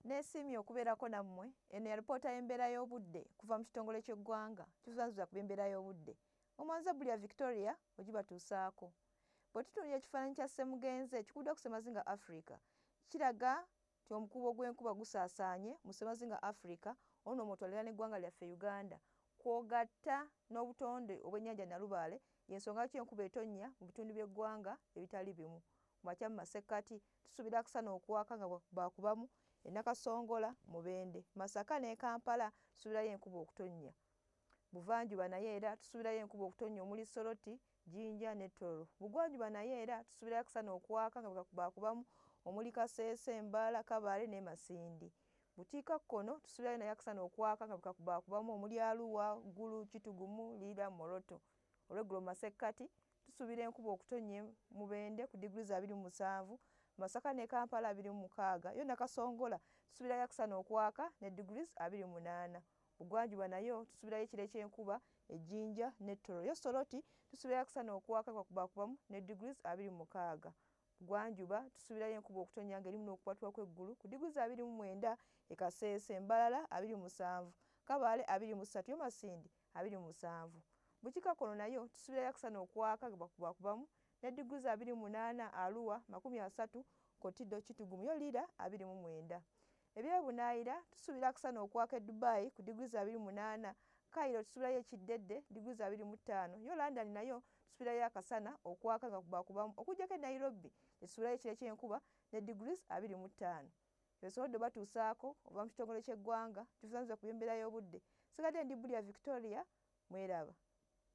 Nesiimye okubeerako nammwe. Eno yalipoota y'embeera y'obudde kuva mu kitongole ky'eggwanga kizuzazuza ku by'embeera y'obudde mu Manzabuli ya Victoria ogibatuusaako. Bwetutunuulira ekifaananyi kya ssemugenzi ekikuddwa ku ssemazinga Africa kiraga nti omukuubo gw'enkuba gusaasaanye mu ssemazinga Africa olwo nno mwotwalira n'eggwanga lyaffe Uganda kwogatta n'obutonde obw'ennyanja Nalubaale y'ensonga lwaki enkuba etonnya mu bitundu by'eggwanga ebitali bimu ku makya, mu masekkati, Tusuubira akusana okuwaaka nga baakubamu e Nakasongola, Mubende, Masaka n'e Kampala tusuubirayo enkuba okutonnya. Buvanjuba nayo era tusuubirayo enkuba okutonnya omuli Soroti, Jinja ne Tororo. Bugwanjuba nayo era tusuubirayo akusana okuwaaka nga baakubamu omuli Kasese, Mbala, Kabale n'e Masindi. Bukiikakkono tusuubirayo nayo akusana okuwaaka nga baakubamu omuli Arua, Gulu, Kitugumu, Lira, Moroto. Olweggulo mu masekkati Tusuubira enkuba okutonnya e Mubende ku diguli za abiri mu musanvu, Masaka ne Kampala abiri mu mukaaga, yo Nakasongola tusuubirayo akasana okwaka ne diguli za abiri mu munaana. Bugwanjuba nayo tusuubirayo ekire ky'enkuba e Jinja ne Toro, yo Soroti tusuubirayo akasana okwaka e Kwakubakubamu ne diguli za abiri mu mukaaga. Bugwanjuba tusuubirayo enkuba okutonnya ng'erimu n'okukwatulwa kw'eggulu ku diguli za abiri mu mwenda e Kasese, Mbarara abiri mu musanvu, Kabale abiri mu ssatu, yo Masindi abiri mu musanvu. Bukiika kono nayo tusubira yakusana okwaka gbakubakubamu ne diguli za abiri mu munaana Arua makumi asatu Kotido Kitgum yo Lira abiri mu mwenda. Ebye bunaayira tusubira akusana okwaka e Dubai ku diguli za abiri mu munaana Cairo tusubirayo ekiddedde diguli za abiri mu ttaano yo London nayo tusubirayo akasana okwaka gbakubakubamu okujjako e Nairobi gye tusubirayo ekire ky'enkuba ne diguli abiri mu ttaano. ebisobodde obatuusaako okuva mu kitongole ky'eggwanga kivunaanyizibwa ku by'embeera y'obudde. Nsigadde ndi Bulya Victoria, mweraba.